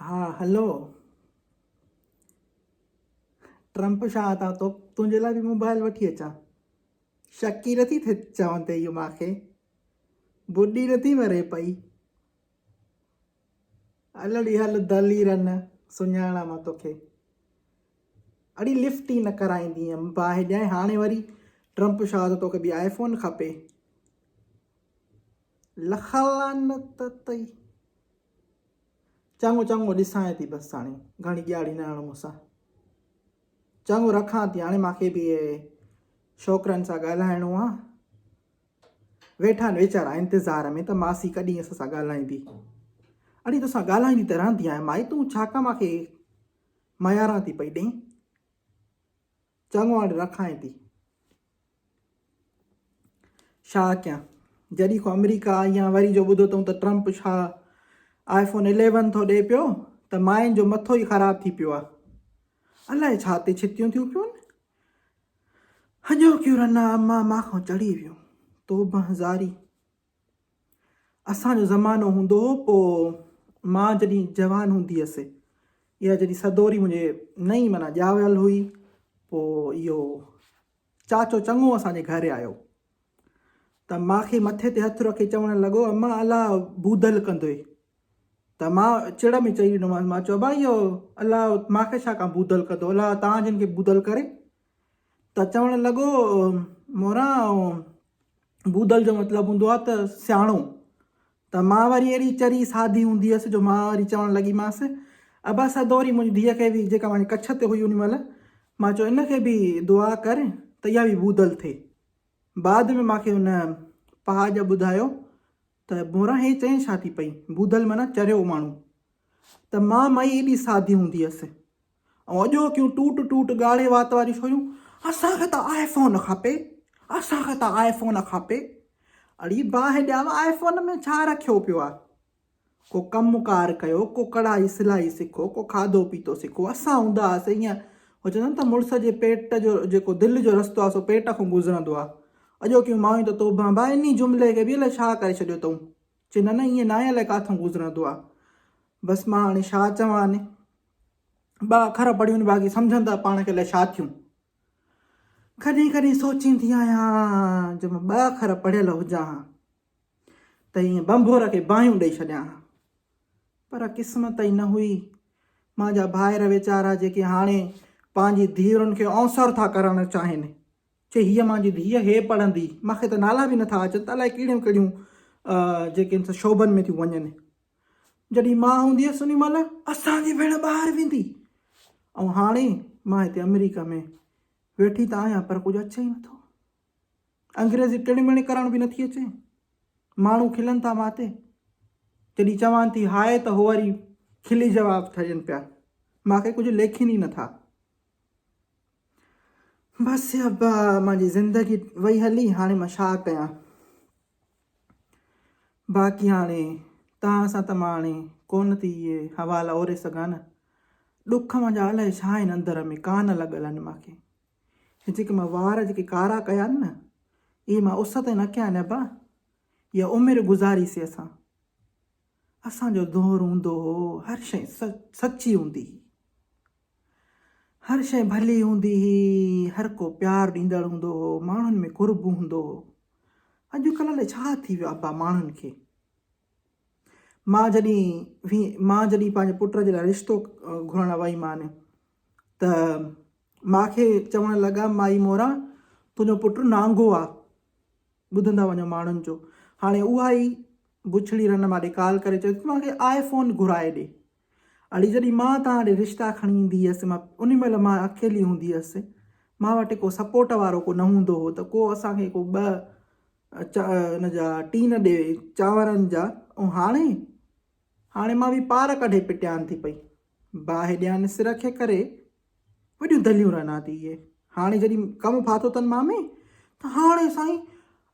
ها hello Trump Shah ته تو تنهنجي لاء به موبائل وٺي اچان شڪي نٿي ٿي چون ته اهو ماکي ٻڏي نٿي مري پئي الڙي هل دليرن سڃاڻا مان توکي اڙي لفٽ ئي نه ڪرائيندي هيم باهه ڏيائي هاڻي وري ٽرمپ شاهه ته توکي به آئي فون کپي لخلانت تئي چڱو چڱو ڏسانء ٿي بس هاڻي گهڻي ڄاڙي نه هڻ مون سان. چڱو رکان ٿي هاڻي مانکي به شوڪرن سان ڳالهائڻو آ. ويٺا آهن ويچارا انتظار ۾ ته ماسي ڪڏهن اسان سان ڳالهائيندي. اڙي توسان ڳالهائيندي ته رهندي آهيان مائي تون ڇا ڪا مانکي مياران ٿي پئي ڏئين. چڱو اڏ رکائين ٿي. شاهه ڪيان جڏي کان آمريڪا آئي آهيان وري جو ٻڌو تئون ته Trump Shah iPhone eleven ٿو ڏي پيو ته ماين جو مٿو ئي خراب ٿي پيو آهي الائي ڇا تي ڇتيون ٿيون پيون هڄوڪيون رنا اما مان کان چڙهي ويون توبه هزاري اسان جو زمانو هوندو هو پوء مان جڏهن جوان هوندي هيس اها جڏهن سدوري منهنجي نئين معنيٰ ڄاول هئي پوء اهو چاچو چڱو اسان جي گهر آيو ته ماکي مٿي تي هٿ رکي چوڻ لڳو اما الا بودل ڪندوئي ته مان چڙ ۾ چئي ڏنومانس مان چيو ابا اهو الا ماکي ڇا ڪان بودل ڪندو الا تان جن کي بودل ڪري ته چوڻ لڳو، موران، بودل جو مطلب هوندو آهي ته سياڻو. ته مان وري اهڙي چري سادي هوندي هيس جو مان وري چوڻ لڳيمانس، ابا سدوري منهنجي ڌيء کي به جيڪا مانجي ڪڇ تي هئي ان مهل مان چيو ان کي به دعا ڪر ته اها به بودل ٿئي. بعد ۾ مان کي ان پهاڄ ٻڌايو ته موران هي چئين ڇا ٿي پئي، بودل معنيٰ چريو ماڻهو. ته مان مئي ايڏي سادي هوندي هيس. ۽ اڄوڪيون ٽوٽ ٽوٽ ڳاڙهي وات واريون ڇويون اسان کي ته آئي فون کپي اسان کي ته آئي فون کپي اڙي باهه ڄام آئي فون ۾ ڇا رکيو پيو آ ڪو ڪم ڪار ڪيو ڪو ڪڙهائي سلائي سکو ڪو کاڌو پيتو سکو اسان هوندا هئاسي ايئن هو چوندا آهن ته مڙس جي پيٽ جو جيڪو دل جو رستو آ سو پيٽ کان گذرندو آ اڄوڪيون مايون ته توبهه ڀاء انهي جملي کي به الائي ڇا ڪري ڇڏيو تئون چي نه نه ائين ناهي الائي ڪاٿئون گذرندو آ. بس مان هاڻي ڇا چوان. ٻه اکر پڙهيون باقي سمجهن ته پاڻ کي الائي ڇا ٿيون. ڪڏهن ڪڏهن سوچيندي آهيان جو مان ٻه اکر پڙهيل هجان ها ته ائين بنڀور کي باهيون ڏئي ڇڏيان ها. پر قسمت ئي نه هئي. مانجا ڀائر ويچارا جيڪي هاڻي پنهنجي ڌيئرن کي اونسر ٿا ڪرڻ چاهين. چي هيء مانجي ڌيء هي پڙهندي. مان کي ته نالا به نٿا اچن ته الائي ڪهڙيون ڪهڙيون جيڪي هن سان شعبن ۾ ٿيون وڃن. جڏهن مان هوندي هيس انهي مهل اسان جي ڀيڻ ٻاهر ويندي ۽ هاڻي مان هتي آمريڪا ۾ ويٺي ته آهيان پر ڪجهه اچي ئي نٿو. انگريزي ٽڻي مڻي ڪرڻ به نٿي اچي. ماڻهو کلن ٿا مان تي. جڏهن چوان ٿي هاء ته هو وري کلي جواب ٿا ڏين پيا. مان کي ڪجهه ليکين ئي نٿا. بس ابا منهنجي زندگي وئي هلي هاڻي مان ڇا ڪيان باقي هاڻي توهان سان ته مان هاڻي ڪونه ٿي اهي حوالا اوري سگهان نه ڏک منهنجا الائي ڇا آهن اندر ۾ ڪان لڳل آهن مانکي هي جيڪي مان وار جيڪي ڪارا ڪيا آهن نه اهي مان اس تي نه ڪيا آهن ابا يا عمر گذاري سي اسان اسان جو دور هوندو هو هر شيء سچي هوندي هي هر شيء ڀلي هوندي هئي، هر ڪو پيار ڏيندڙ هوندو هو، ماڻهن ۾ قرب هوندو هو. اڄ ڪلهه الائي ڇا ٿي ويو آهي ابا ماڻهن کي. ماء جڏهن وي ماء جڏهن پنهنجي پٽ جي لاء رشتو گهرڻ وئي مان ته ماء کي چوڻ لڳا مائي مورا تنهنجو پٽ نانگو آ ٻڌندا وڃو ماڻهن جو هاڻي اها ئي بڇڙي رن مان ڏڪال ڪري چوي ٿي مان کي آئي فون گهرائي ڏي اڙي جڏهن مان توهان ڏي رشتا کڻي ايندي هيس مان ان مهل مان اڪيلي هوندي هيس مان وٽ ڪو سپورٽ وارو ڪو نه هوندو هو ته ڪو اسان کي ڪو ٻه چا ان جا ٽين ڏي چانورن جا ۽ هاڻي هاڻي مان به پار ڪڍي پٽيان ٿي پئي باهه ڏيان سر کي ڪري وڏيون دليون رنا ٿي اهي هاڻي جڏهن ڪم ڦاٿو اٿن مامي ته هاڻي سائين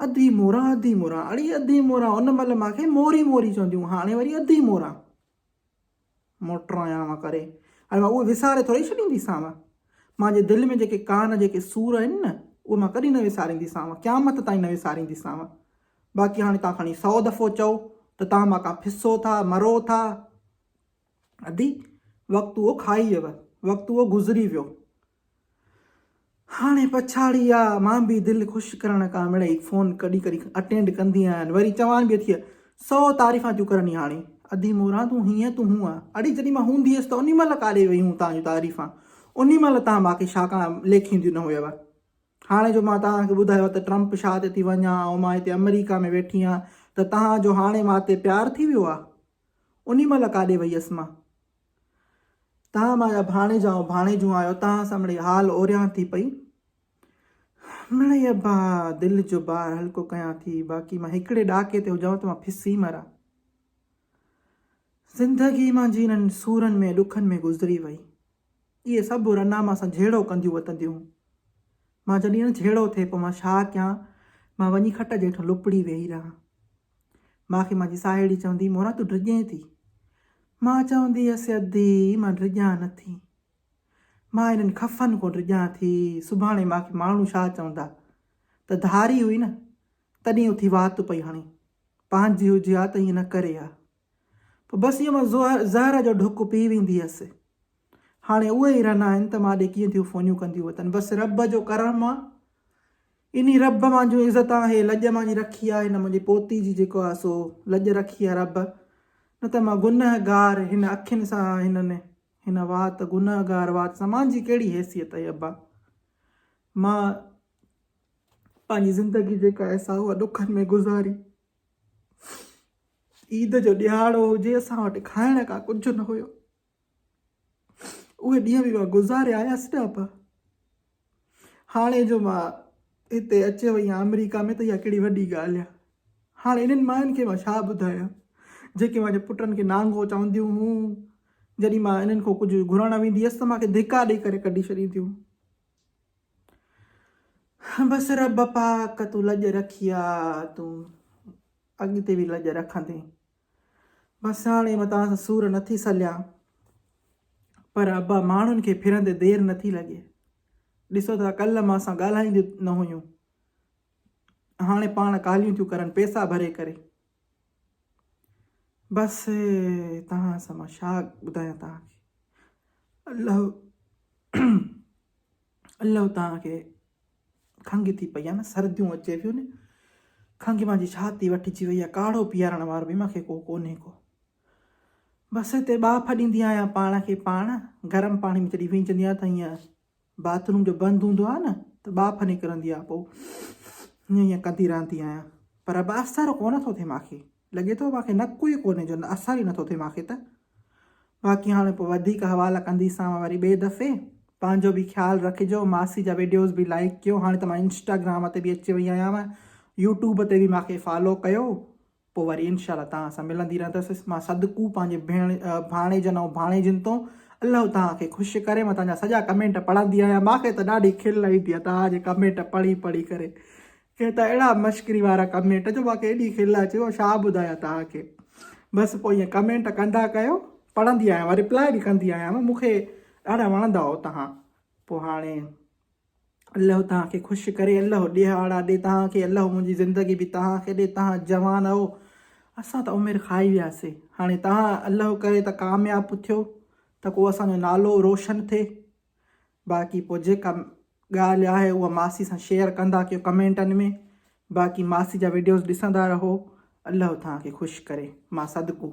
اڌي مورا اڌي مورا اڙي اڌي مورا ان مهل ماکي موري موري چونديون هاڻي وري اڌي مورا موٽرايانء ڪري هاڻي مان اهي وساري ٿورئي ڇڏينديسانء. مانجي دل ۾ جيڪي ڪانه جيڪي سور آهن نه، اهي مان ڪڏهن نه وسارينديسانء، قيامت تائين نه وسارينديسانء. باقي هاڻي توهان کڻي سئو دفعو چئو ته توهان مان ڪا پسو ٿا، مرو ٿا. ادي! وقت اهو کائيئي ويو، وقت اهو گذري ويو. هاڻي پڇاڙي آ مان به دل خوش ڪرڻ ڪا مڙئي فون ڪڏهن ڪڏهن اٽينڊ ڪندي آهيان وري چوان به اٿيء سئو تعريفان ٿيون ڪرن ئي هاڻي ادي موران تون هينئن تون هونئن اڙي جڏهن مان هوندي هيس ته انهي مهل ڪاڏي وئي هون تانجون تعريفان انهي مهل تان مان کي شا ڪان ليکينديون نه هيو هاڻي جو مان تان کي ٻڌايو ته ٽرمپ شا تي ٿي وڃان ۽ مان هتي امريڪا ۾ ويٺي آهيان ته تان جو هاڻي مان تي پيار ٿي ويو آ انهي مهل ڪاڏي وئي هيس مان تان مايا ڀاڻيجا ۽ ڀاڻيجون آيو تان سان مڙئي حال اوريان ٿي پئي مڙئي ابا دل جو بار هلڪو ڪيان ٿي باقي مان هڪڙي ڏاڪي تي هجان ته مان ڦسي مران زندگي منهنجي انهن سورن ۾ ڏکن ۾ گذري وئي اهي سڀ رنا مان سان جهيڙو ڪنديون وتنديون مان جڏهن جهيڙو ٿئي پوء مان ڇا ڪيان مان وڃي کٽ جي هيٺ لپڙي ويهي رهان مان کي منهنجي ساهيڙي چوندي، موران تون ڊڄين ٿي. مان چوندي هيس، ادي مان ڊڄان نه ٿي. مان هنن خفن ڪو ڊڄان ٿي. سڀاڻي مان کي ماڻهو ڇا چوندا؟ ته ڌاري هئي نه، تڏهن اٿي وات پئي هڻي. پنهنجي هجي ها ته ائين نه ڪري ها. پوء بس ايئن مان زهر جو ڍڪ پي ويندي هيس. هاڻي اهي ئي رنا آهن ته مان ڏي ڪيئن ٿيون فونيون ڪنديون وتن. بس رب جو ڪرم آ. انهي رب مانجهون عزتان هي لڄ مانجهي رکي آ. هن منهنجي پوتي جي جيڪو آ سو لڄ رکي آ رب. نه ته مان گنهگار هن اکين سان هنن هن وات گنهگار وات سان مانجهي ڪهڙي حيثيت آهي ابا. مان پنهنجي زندگي جيڪا آهي سا اها ڏکن ۾ گذاري. عيد جو ڏهاڙو هجي اسان وٽ کائڻ کا ڪجهه نه هيو اهي ڏينهن به مان گذاري آيس نه ابا هاڻي جو مان هتي اچي وئي آهيان آمريڪا ۾ ته اها ڪهڙي وڏي ڳالهه آهي هاڻي انهن مائن کي مان ڇا ٻڌايان جيڪي مانجي پٽن کي نانگو چونديون هيون جڏهن مان انهن کان ڪجهه گهرڻ ويندي هيس ته مانکي ڌڪا ڏيئي ڪري ڪڍي ڇڏينديون بس رب پاڪ تون لڄ رکي آ تون اڳتي به لڄ رکندين بس هاڻي مان توهان سان سور نٿي سليان پر ابا ماڻهن کي ڦرندي دير نٿي لڳي ڏسو ٿا ڪل مان سان ڳالهائينديون نه هيون هاڻي پاڻ ڪاليون ٿيون ڪرن پيسا ڀري ڪري بس توهان سان مان ڇا ٻڌايان توهان کي الله الله توهان کي کنگهه ٿي پئي آهي نه سرديون اچي پيون نه کنگهه مان جي ڇاتي وٺجي وئي آهي ڪاڙهو پيارڻ وارو به مونکي ڪو ڪونهي ڪو بس هتي ٻاڦ ڏيندي آهيان پاڻ کي پاڻ گرم پاڻي ۾ جڏهن وينجندي آهيان ته ائين باٿ روم جو بند هوندو آهي نه ته ٻاڦ نڪرندي آهي پوء هيئن هيئن ڪندي رهندي آهيان پر اب اثر ڪونه ٿو ٿئي مانکي لڳي ٿو مانکي نڪو ئي ڪونهي جو اثر ئي نٿو ٿئي مانکي ته باقي هاڻي پوء وڌيڪ حوالا ڪنديسانو وري ٻئي دفعي پنهنجو به خيال رکجو ماسي جا ويڊيوز به لائڪ ڪيو هاڻي ته مان انسٽاگرام تي به اچي وئي آهيان يوٽيوب تي به مانکي فالو ڪيو پوء وري انشاء الله توهان سان ملندي رهندس. مان صدقو پنهنجي ڀيڻ، ڀاڻيجن ۽ ڀاڻيجين تون الله توهان کي خوش ڪري. مان توهان جا سڄا ڪمينٽ پڙهندي آهيان. مان کي ته ڏاڍي کل ايندي آهي توهان جي ڪمينٽ پڙهي پڙهي ڪري. ڪي ته اهڙا مشڪري وارا ڪمينٽ جو مان کي ايڏي کل اچي مان ڇا ٻڌايان توهان کي. بس پوء ائين ڪمينٽ ڪندا ڪيو. پڙهندي آهيان مان رپلاء به ڪندي آهيان. مون کي ڏاڍا وڻندا آهيو توهان. پوء هاڻي الله توهان کي خوش ڪري الله ڏيهاڙا ڏي توهان کي الله منهنجي زندگي به توهان کي ڏي توهان جوان اهو اسان ته عمر کائي وياسي هاڻي توهان الله ڪري ته ڪامياب ٿيو ته ڪو اسان جو نالو روشن ٿئي باقي پوء جيڪا ڳالهه آهي اها ماسي سان شيئر ڪندا ڪيو ڪمينٽن ۾ باقي ماسي جا ويڊيوز ڏسندا رهو الله توهان کي خوش ڪري مان صدقو